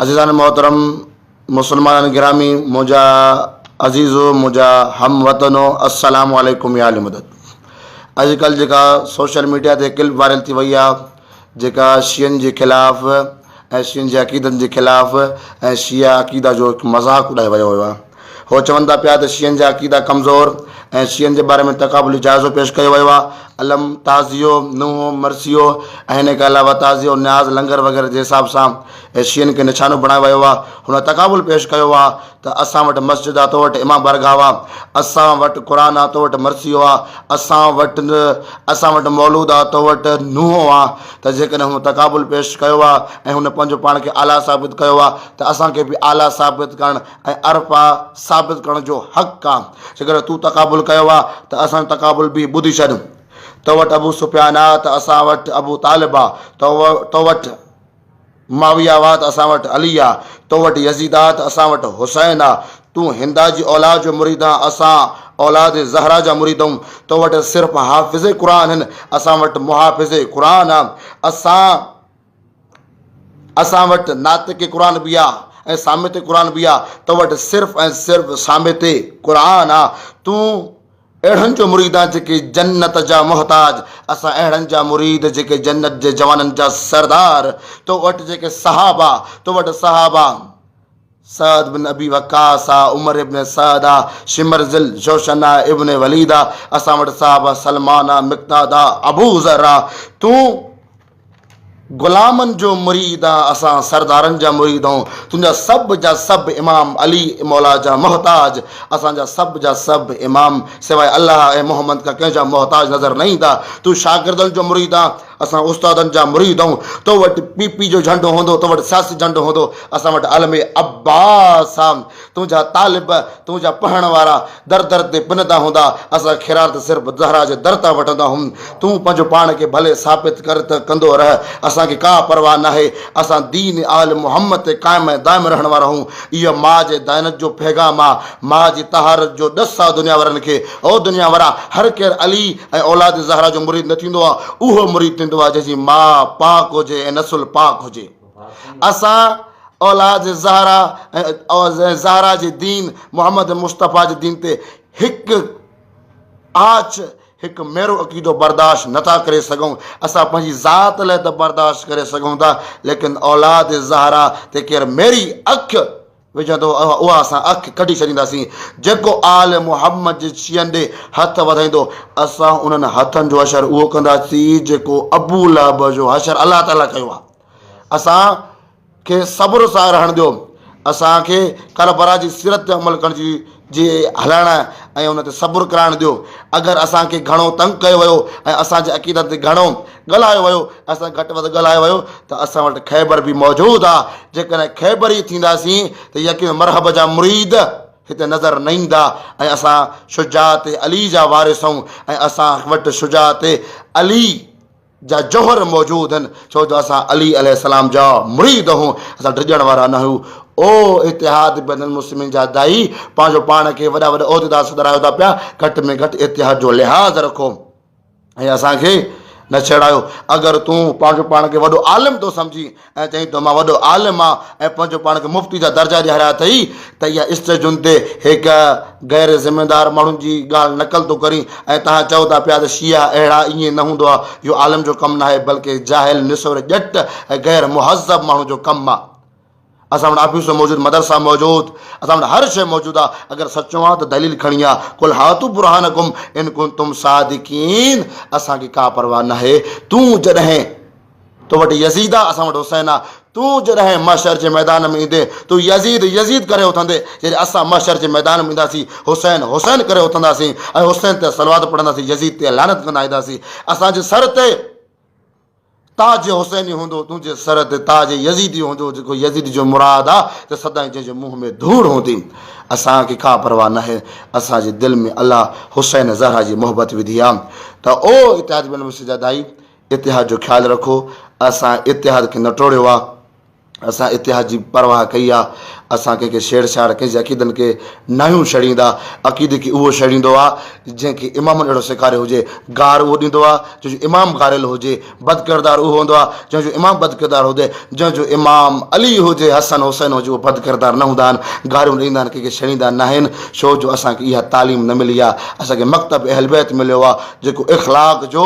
عزيزان محترم مسلمانان گرامي منهنجا عزيزو منهنجا هم وطنو السلام عليڪم يا علي مدد اڄڪلھ جيڪا سوشل ميڊيا تي ڪلپ وائرل ٿي وئي آهي جيڪا شين جي خلاف ۽ شين جي عقيدن جي خلاف ۽ شيعا عقيدا جو هڪ مذاق اڏايو ويو آهي هو چون ٿا پيا ته شيعن جا عقيدا ڪمزور ۽ شيعن جي باري ۾ تقابلي جائزو پيش ڪيو ويو آهي، علم، تعزيو، نوحو، مرثيو ۽ ان کان علاوه تعزيو، نياز، لنگر وغيره جي حساب سان شيعن کي نشانو بڻايو ويو آهي. هن تقابل پيش ڪيو آهي ته اسان وٽ مسجد آهي تو وٽ امام بارگاهه آهي، اسان وٽ قرآن آهي تو وٽ مرثيو آهي، اسان وٽ اسان وٽ مولود آهي تو وٽ نوحو آهي ته جيڪڏهن هن تقابل پيش ڪيو آهي ۽ هن پنهنجو پاڻ کي اعليٰ ثابت ڪيو آهي ته اسان کي به اعليٰ ثابت ڪرڻ ۽ عرفا ثابت ڪرڻ جو حق آ، جيڪڏهن تون تقابل ڪيو آ ته اسان جو تقابل به ٻڌي ڇڏ. تو وٽ ابو سفيان آ ته اسان وٽ ابو طالب آ، تو وٽ معاويه آ ته اسان وٽ علي آ، تو وٽ يزيد آ ته اسان وٽ حسين آ، تون هندا جي اولاد جو مريد آن اسان اولاد زهرا جا مريد آهيون، تو وٽ صرف حافظ قرآن هن، اسان وٽ محافظ قرآن آ، اسان. اسان وٽ ناطق قرآن به آ ۽ سامت قرآن به آ، تو وٽ صرف ۽ صرف سامت قرآن آ، تون اهڙن جو مريد آن جيڪي جنت جا محتاج، اسان اهڙن جا مريد جيڪي جنت جي جوانن جا سردار، تو وٽ جيڪي صحابا، تو وٽ صحابا. سعد بن ابي وقاص آ، عمر ابن سعد آ، شمر ذل جوشن آ، ابن وليد آ، اسان وٽ صاحب سلمان آ، مقداد آ، ابو ذر آ، تون غلامن جو مريد آ، اسان سردارن جا مريد آهون، تنهنجا سڀ جا سڀ امام علي مولا جا محتاج، اسان جا سڀ جا سڀ امام سواء الله ۽ محمد کان ڪنهن جا محتاج نظر نه ايندا، تون شاگردن جو مريد آ، اسان استادن جا مريد آهيون، تو وٽ پي پي جو جهنڊو هوندو، تو وٽ سياسي جهنڊو هوندو، اسان وٽ عالم عباس آ، تنهنجا طالب، تنهنجا پڙهڻ وارا در در تي پندا هوندا، اسان خيرارت صرف زهرا جي در تان وٺندا آهيون، تون پنهنجو پاڻ کي ڀلي ثابت ڪر ته ڪندو رهه، اسان کي ڪا پرواهه ناهي، اسان دين آل محمد تي قائم ۽ دائم رهڻ وارا آهيون، اهو ماء جي ديانت جو پيغام آ، ماء جي طهارت جو ڏس آ دنيا ورن کي، او دنيا ورا! هر ڪير علي. ۽ اولاد زهرا جو مريد نه ٿيندو آ اهو مريد ٿيندو آ جنهن جي ماء پاڪ هجي ۽ نسل پاڪ هجي اسان اولاد زهرا ۽ زهرا جي دين محمد مصطفيٰ جي دين تي هڪ آچ هڪ ميرو عقيدو برداشت نه ٿا ڪري سگهون اسان پنهنجي ذات لاء ته برداشت ڪري سگهون ٿا ليڪن اولاد زهرا تي ڪير ميري اک وجهه ته اها اسان اک ڪڍي ڇڏينداسين. جيڪو آل محمد جي شيعن ڏي هٿ وڌائيندو، اسان انهن هٿن جو حشر اهو ڪنداسين جيڪو ابو لهب جو حشر الله تعاليٰ ڪيو آهي. اسان کي صبر سان رهڻ ڏيو. اسان کي ڪربلا جي سيرت تي عمل ڪرڻ جي جي هلائڻ ۽ ان تي صبر ڪرائڻ ڏيو. اگر اسان کي گهڻو تنگ ڪيو ويو ۽ اسان جي عقيدن تي گهڻو ڳالهايو ويو ۽ اسان کي گهٽ وڌ ڳالهايو ويو ته اسان وٽ خيبر به موجود آ. جيڪڏهن خيبري ٿينداسين ته يقيناً مرحب جا مريد هتي نظر نه ايندا ۽ اسان شجاعت علي جا وارث آهيون ۽ اسان وٽ شجاعت علي جا جوهر موجود هن، ڇو جو اسان علي عليه السلام جا مريد هون، اسان ڊڄڻ وارا نه هيون. او اتحاد بين المسلمين جا داعي، پنهنجو پاڻ کي وڏا وڏا عهديدار سڏرايو ٿا پيا، گهٽ ۾ گهٽ اتحاد جو لحاظ رکو ۽ اسان کي نه ڇيڙايو. اگر تون پنهنجو پاڻ کي وڏو عالم ٿو سمجهين، ۽ چيائين ته مان وڏو عالم آهيان ۽ پنهنجو پاڻ کي مفتي جا درجا ڏياريا اٿئي ته اها اسٽيجن تي هڪ غير ذميوار ماڻهو جي ڳالهه نقل ٿو ڪرين ۽ توهان چئو ٿا پيا ته شيعا اهڙا ائين نه هوندو آهي اهو عالم جو ڪم ناهي بلڪه جاهل نسور ڄٽ ۽ غير مهذب ماڻهو جو ڪم آهي اسان وٽ آفيسون موجود مدرسا موجود اسان وٽ هر شيء موجود آهي اگر سچ چون ها ته دليل کڻي آ قل هاتو برهانکم ان ڪنتم صادقين اسان کي ڪا پرواهه ناهي تون جڏهن تو وٽ يزيد آ، اسان وٽ حسين آ. تون جڏهن محشر جي ميدان ۾ ايندين، تون يزيد، يزيد ڪري اٿندين، جڏهن اسان محشر جي ميدان ۾ اينداسين، حسين، حسين ڪري اٿنداسين ۽ حسين تي صلوات پڙهنداسين، يزيد تي لعنت ڪندا اينداسين. اسان جي سر تي تاج حسيني هوندو، تنهنجي سر تي تاج يزيدي هوندو، جيڪو يزيد جو مراد آ ته سدائين جنهن جي منهن ۾ ڌوڙ هوندي. اسان کي ڪا پرواهه ناهي، اسان جي دل ۾ الله حسين زهرا جي محبت وڌي آ ته او اتحاد بين المسجد جا داعي، اتحاد جو خيال رکو، اسان اتحاد کي نه ٽوڙيو آ، اسان اتحاد جي پرواهه ڪئي آ، اسان ڪنهن کي ڇيڙ ڇاڙ، ڪنهن جي عقيدن کي ناهيون ڇيڙيندا، عقيدي کي اهو ڇيڙيندو آ، جنهن کي امامن اهڙو سيکاريو هجي، گار اهو ڏيندو آ، جنهن جو امام گاريل هجي، بد ڪردار اهو هوندو آ، جنهن جو امام بد ڪردار هجي، جنهن جو امام علي هجي، حسن حسين هجي، اهي بد ڪردار نه هوندا آهن، گاريون ڏيندا آهن، ڪنهن کي ڇيڙيندا ناهن، ڇو جو اسان کي اها تعليم نه ملي آ، اسان کي مڪتب اهلبيت مليو آ، جيڪو اخلاق جو